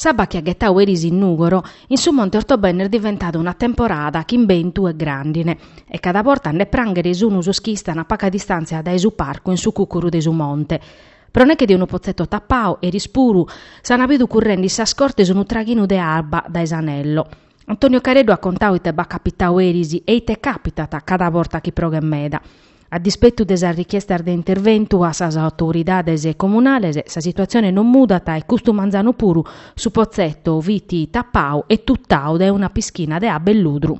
S'abba chi at ghetau eris in Nùgoro, in su monte Ortobene est diventada una temporada chin bentu e gràndine, e cada borta a nde pranghere sunu sos chi istan a paga distàntzia dae su parcu in su cùcuru de su monte. Pro neche de unu potzetto tapau, eris puru, s'an bidu currende in sas cortes unu traghinu de abba dae s'anello. Antonio Careddu at contau ite b'at capitau eris e ite càpitat cada borta chi proghet meda. A dispetu de sas richiestas de interventu a sas autoridades comunales, sa situatzione non mudat e custu manzanu puru su potzetto fit tapau e tutau dae una pischina de abba e ludru.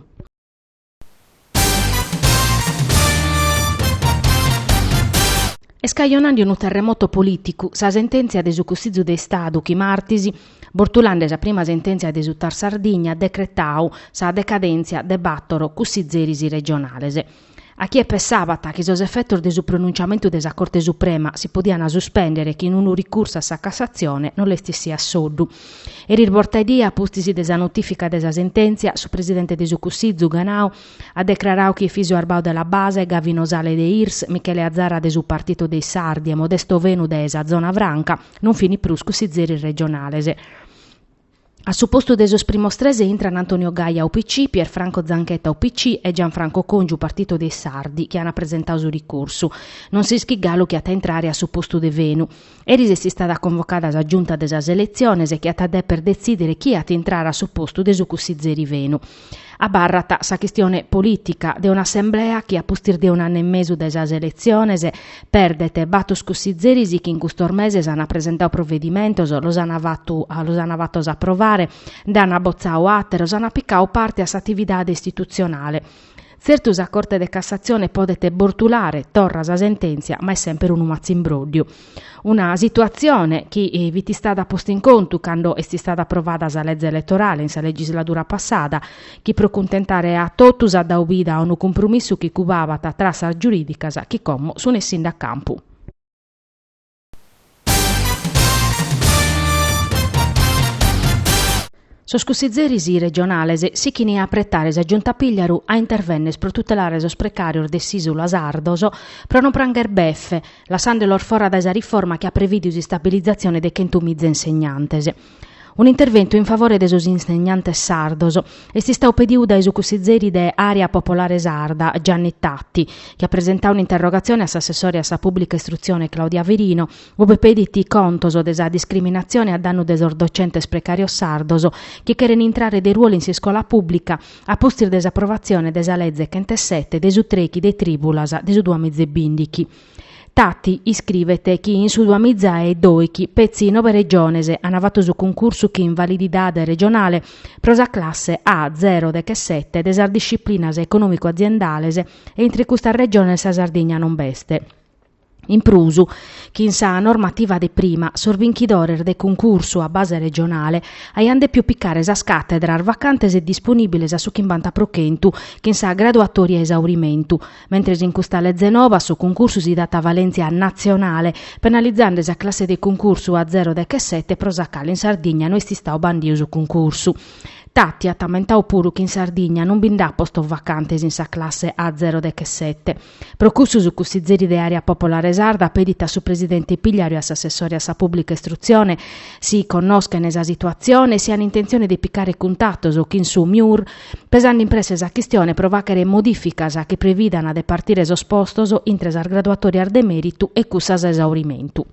Est cajonande unu terremoto polìticu sa sentèntzia de su Cussizu de Istadu chi martis, bortulande sa prima sentèntzia de su TAR Sardigna, at decretau sa decadèntzia de bàtoro cussizeris regionales. A chie pessabat chi sos efetos de su pronuntziamentu de sa Corte Suprema si podiant suspèndere chin unu ricursu a sa Cassatzione no l'est issia a soddu. Eris bortaidie, a pustis de sa notìfica de sa sentèntzia, su presidente de su Cussizu, Ganau, at decrarau chi Efisio Arbau de La Base, Gavino Sale de Irs, Michele Azara de su Partito dei Sardi e Modesto Fenu de sa Zona Franca non fini prus cussizeris regionales. A su postu de sos primos tres intran Antonio Gaia, UPC, Pierfranco Zanchetta, UPC, e Gianfranco Congiu, Partito dei Sardi, chi ant presentau su ricursu. Non s'ischit galu chie at a intrare a su postu de Fenu. Eris est istada convocada sa Giunta de sas Eletziones chi at a deper detzìdere chie at intrare a su postu de su cussizeri Fenu. Abarrat sa chistione polìtica de un'assemblea chi a pustis de un'annu e mesu dae sas eletziones perdet batos cussizeris chi in custos meses ant presentau provedimentos, los ant fatos aprovare, nd'ant botzau àteros, ant picau parte a s'atividade istitutzionale. Tzertu sa Corte de Cassatzione podet bortulare torra sa sentèntzia ma est semper unu matzimbróddiu. Una situatzione chi fit istada posta in contu cando est istada aprovada sa leze eletorale in sa legisladura passada chi pro cuntentare a totus at dau vida a unu cumprumissu chi cubabat trassas giurìdicas chi como sunt essinde a campu. Sos cussizeris regionales sichini a apretare sa Giunta Pigliaru a intervennes pro tutelare sos precàrios de s'Ìsula sardos pro no prangher befe, lassande los fora dae sa riforma chi at prevìdiu s'istabilizatzione de chentu miza insegnantes. Un'interventu in favore de sos insegnantes sardos est istau pediu dae su cussizeri de Àrea Popolare Sarda, Gianni Tatti, chi at presentau un'interrogatzione a s'assessore a sa Pùblica Istrutzione Claudia Firino, ube pedit contos de sa discriminatzione a dannu de sos docentes precàrios sardos chi cheren intrare de ruolu in s'iscola pùblica a pustis de s'aprovatzione de sa Leze chentesete de su trechi de trìbulas de su duamizebìndichi. Tati iscribet chi in su duamiza e doighi petzi nobe regiones an fatu su cuncursu chin valididade regionale pro sa classe A zero deghesete de sas disciplinas econòmico-aziendales e intre custas regiones sa Sardigna non b'est. In prus, chin sa normativa de prima, sos binchidores de cuncursu a base regionale aiant dèpiu picare sas càtedras vacantes e disponìbiles a su chimbanta pro chentu chin sa graduatoria a esaurimentu, Mentres in custa leze nova a su cuncursu si dat valèntzia natzionale, penalizande sa classe de cuncursu a zero deghesete pro sa cale in Sardigna no est istadu bandiu su cuncursu. Tati at ammentadu puru chi in Sardigna non bi nd'at postos vacantes in sa classe a zero deghesete. Pro cussu su cussizeri de Àrea Popolare Sarda pedit a su presidente Pigliaru e a s'assessore a sa pùblica istrutzione si connoschent sa situatzione e si ant intentzione de picare cuntatos chin su MIUR pesande in presse sa chistione pro fàghere modificas chi previdant de partire sos postos intre sas graduatorias de mèritu e cussas a esaurimentu.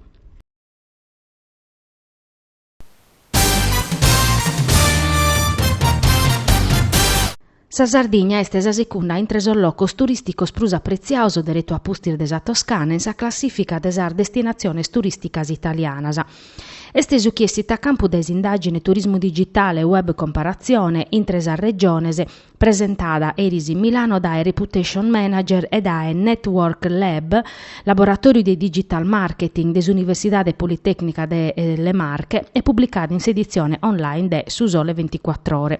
Sa Sardigna est sa secunda intre sos locos turìsticos prus apretziados deretu a pustis de sa Toscana in sa classìfica de sas destinatziones turìsticas italianas. Est su chi essit a campu dae s'indàgine Turismu digitale, web comparatzione intre sas Regiones presentada eris in Milano dae Reputation Manager e dae Network Lab, laboratòriu de digital marketing de s'Universidade Politècnica de Le Marche e publicada in s'editzione online de Su Sole Venticuattr'Ore.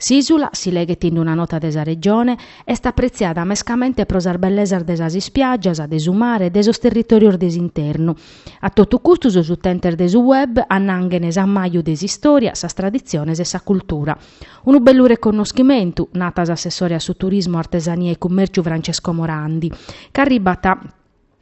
S'ìsula, si leghet in una nota de sa Regione, est apretziada mescamente pro sas bellesas de sas ispiàgias, de su mare e de sos territòrios de s'internu. A totu custu sos utentes de su web annanghent s'amaju de s'istòria, sas traditziones e sa cultura. Unu bellu reconnoschimentu, nat s'assessore a su Turismu, Artesania e Cummèrciu Francesco Morandi, ca arribat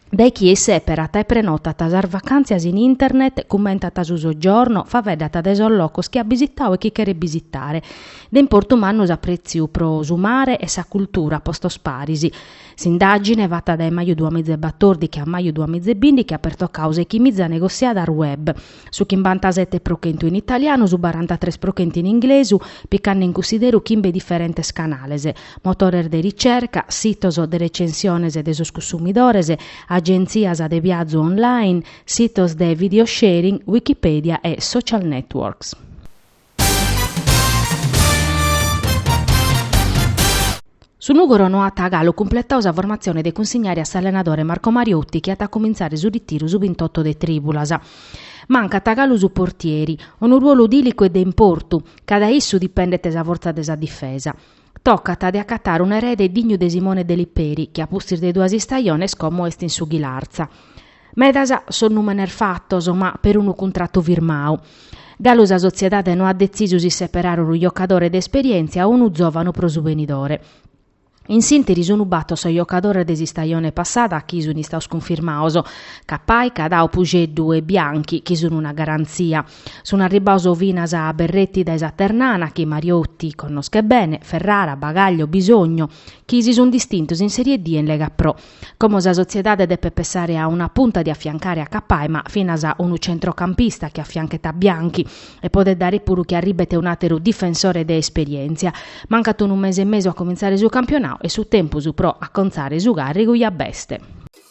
dae chie isseperat e prenotat sas vacàntzias in internet, cummentat su soggiorno, faeddat de sos locos chi at bisitadu e chi cheret bisitare. De importu mannu s'aprètziu pro su mare e sa cultura a postos paris. S'indàgine, fata dae maju duamiza e batordighi a maju duamiza e bìndighi, at pertocadu sèighi miza negotziadas web, su chimbantasete pro chentu in italianu, su barantatres pro chentu in inglesu, picande in cunsideru chimbe diferentes canales, motores de ricerca, sitos de recensiones de sos cunsumidores, agentzias de viazu online, sitos de video sharing, Wikipedia e social networks. Su Nùgoro no at galu cumpletadu sa formatzione de cunsignare a s'allenadore Marco Mariotti chi at a cumintzare su ritiru su bintotto de trìbulas. Mancat galu su portieri, unu ruolu dìlicu e de importu, ca dae issu dipendet sa fortza de sa difesa. Tocat de acatare un'erede dignu de Simone de Liperi, chi a pustis de duas istajones como est in su Ghilarza. Medas sos nùmenes fatos, ma perunu cuntratu firmadu. Galu sa sotziedade no at detzisu si seperare unu jocadore de esperièntzia o unu zòvanu pro su benidore. In s'ìnteri sun bator sos jocadores de s'istajone passada chi sun istados cunfirmados, Cappai, Cadau, Puxeddu e Bianchi, chi sun una garantzia. Sun arribbados finas Berretti dae sa Ternana chi Mariotti connoschet bene, Ferrara, Bagaglio, Bisogno, chi si sun distintos in Serie D e in Lega Pro. Como sa sotziedade depet pessare a una punta de afiancare a Cappai ma finas unu centrocampista chi afianchet a Bianchi e podet dare puru chi arribbet un'àteru difensore de esperièntzia. Mancat unu mese e mesu a comintzare su campionadu e su tempus pro acontzare su càrrigu ja b'est.